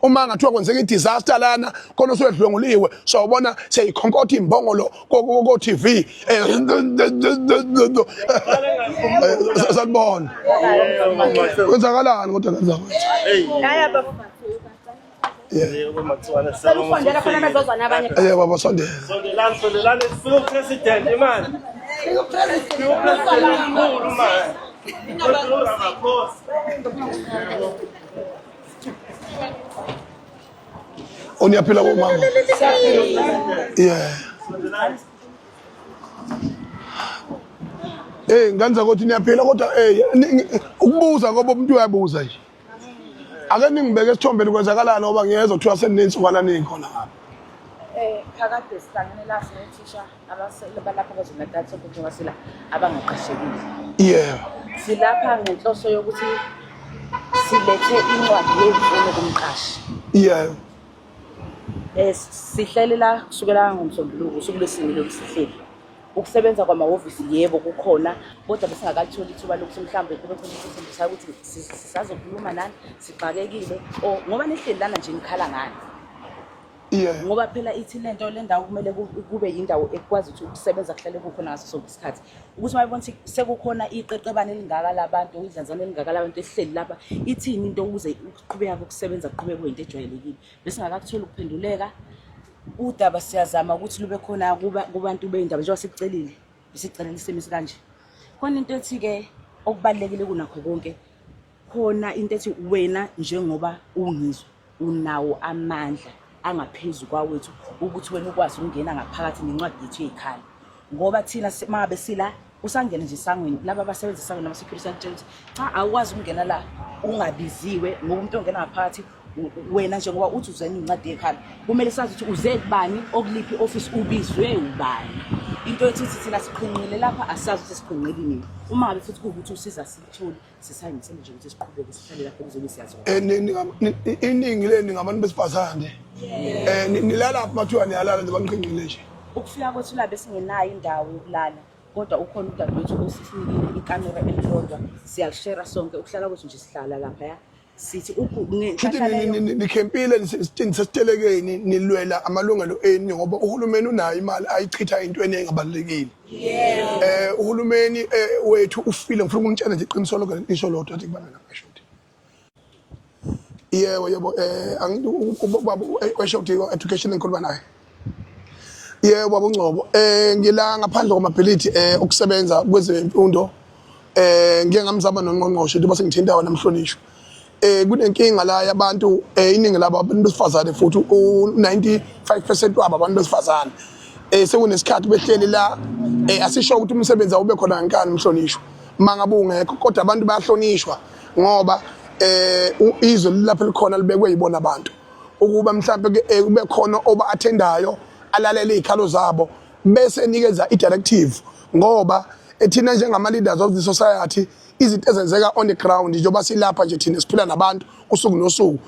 uma ngathiwa kwenzeka i-disaster lana khona usuyedlwenguliwe sawubona seyikhonkotha imbongolo ko-tv sanibona kwenzakalani kodwa kanza kwethu baba sondela o niyaphila bomama yeah Eh ngenza ukuthi niyaphila kodwa eh ukubuza ngoba umuntu uyabuza nje ake ningibeke esithombeni kwenzakalani ngoba ngiyezwa kuthiwa seninintsukwana ningi khona ngapha eh phakade sihlangene la sinethisha Abasele balapha KwaZulu-Natal sokuthi abasela abangaqashekile. Yebo. Silapha ngenhloso yokuthi silethe incwadi yemfuno kumqashi. Yebo. Eh sihlele la kusukela ngomsombuluko usuku lwesini lokusihleli. Ukusebenza kwamahhovisi yebo kukhona kodwa besingakatholi ithuba lokuthi mhlawumbe kube khona isifundisa ukuthi sisazokhuluma nani sixakekile or ngoba nihleli lana nje nikhala ngani. Yeah. Ngoba phela ithi lento lendawo kumele kube yindawo ekwazi ukuthi ukusebenza kuhlale kukhona ngaso sonke isikhathi. Ukuthi mayibona ukuthi sekukhona iqeqebane elingaka labantu, idlanzana elingaka labantu ehleli lapha, ithini into ukuze ukuqhubeka kokusebenza kuqhubeke kuyinto ejwayelekile. Bese ngakakuthola ukuphenduleka. Udaba siyazama ukuthi lube khona kubantu beyindaba njengoba sikucelile, besicelele isimo esikanje. Khona into ethi ke okubalekile kunakho konke khona into ethi wena njengoba ungizwa unawo amandla angaphezu kwawethu ukuthi wena ukwazi ukungena ngaphakathi nencwadi yethu yey'khala ngoba thina mangabe sila usangene nje esangweni laba abasebenza esangweni ama-security atshela ukuthi cha awukwazi ukungena la ungabiziwe ngoba umuntu ongena ngaphakathi wena njengoba uthi uzena incwadi yekhanda kumele sazi ukuthi uze kubani okuliphi i-ofisi ubizwe ubani into ethi uthi thina siqhinqile lapha asazi ukuthi siqhinqile nini uma ngabe futhi kuwukuthi usiza sithule iningi leni ngabantu besifazane um nilala phi mathiwa niyalala nje banqinqile nje ukufika kwethu labe singenayo indawo yokulala kodwa ukhona udadewethu osisinikile ikamera elilodwa siyalishera sonke ukuhlala kwethu nje sihlala laphaya sithi nikhempile sesitelekeni nilwela amalungelo enu ngoba uhulumeni unayo imali ayichitha entweni engabalulekile eh uhulumeni eh, wethu ufile ngifuna ukunitshela nje iqiniso lokho lisho lodwa athi kubana namasho yebo yebo eh angithi ubaba weshoti education engikhuluma naye Yebo baba uNgcobo eh ngila ngaphandle kwamabhilidi eh okusebenza kwezemfundo eh ngike ngamzama nongqongqoshe njengoba sengithinta wena mhlonishwa eh kunenkinga la yabantu eh iningi labo abantu besifazane futhi u95% wabo abantu besifazane eh sekunesikhathi behleli la eh asisho ukuthi umsebenzi awube khona ngenkani mhlonishwa mangabungekho kodwa abantu bayahlonishwa ngoba eh izwe lilapha likhona libekwe yibona abantu ukuba mhlampe kube khona oba athendayo alalele izikhalo zabo bese enikeza i-directive ngoba ethina njengama-leaders of the society izinto ezenzeka on the ground njengoba silapha nje thina siphila nabantu usuku nosuku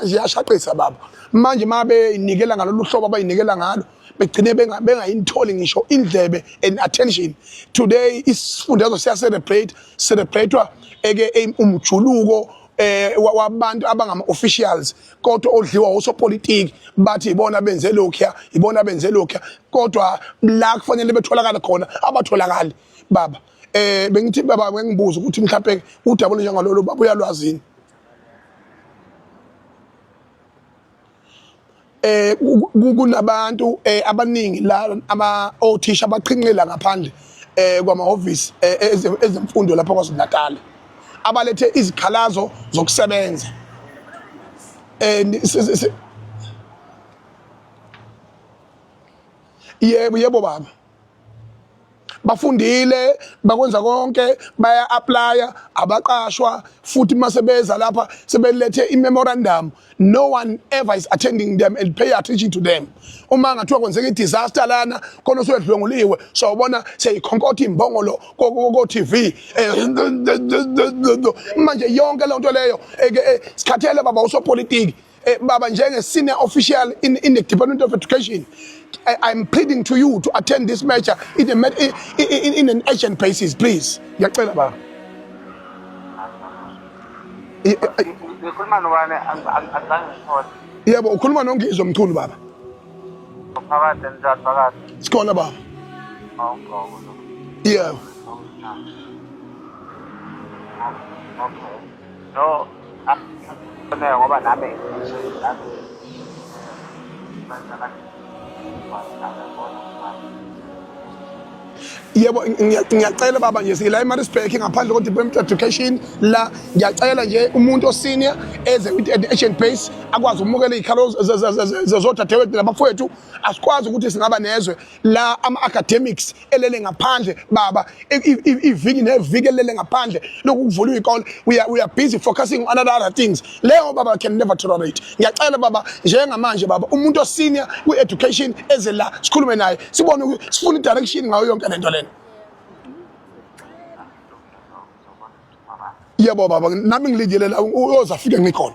ziyashaqisa baba manje uma beyinikela ngalolu hlobo abayinikela ngalo begcine bengayinitholi ngisho indlebe and attention today isifundazwe siyacerebrate cerebrate-wa eke umjuluko eh wabantu abangama officials kodwa odliwa osopolitiki bathi ibona benze lokho ibona benze lokho kodwa la kufanele betholakala khona abatholakali baba eh bengithi baba ngibuza ukuthi mhlawumbe udabule njengalolo baba uyalwazini eh kunabantu eh, abaningi la ama othisha abaqhinqela ngaphandle eh kwamahhovisi eh, ezemfundo lapha kwaZulu-Natal abalethe izikhalazo zokusebenza eh yebo yebo baba bafundile bakwenza konke baya applya abaqashwa futhi mase beza lapha sebelethe i memorandum no one ever is attending them and pay attention to them uma ngathiwa kwenzeka i disaster lana khona usuyedlwenguliwe so ubona seyikhonkotha imbongolo ko TV eh, manje yonke lento leyo sikhathele baba usopolitiki Eh, baba njenge senior official in, in the Department of Education I, I'm pleading to you to attend this match in, a, in, in, in an urgent basis please ngiyacela baba yebo ukhuluma nongizwe mchunu baba sikhona baba yebo No, akufuneka ngoba nami yebo ngiyacela baba nje sila eMaritzburg ngaphandle ko Department of Education la ngiyacela nje umuntu osenior eze with an ancient base akwazi ukumukela izikhalo zezodadewethu nabafowethu asikwazi ukuthi singaba nezwe la ama academics elele ngaphandle baba iviki neviki elele ngaphandle lokuvula ikole we are, we are busy focusing on other, other things leyo baba can never tolerate ngiyacela baba njengamanje baba umuntu osenior ku education eze la sikhulume naye sibone sifuna direction ngayo yonke lento lena yebo baba nami ngilingelela uyoza fike ngikhona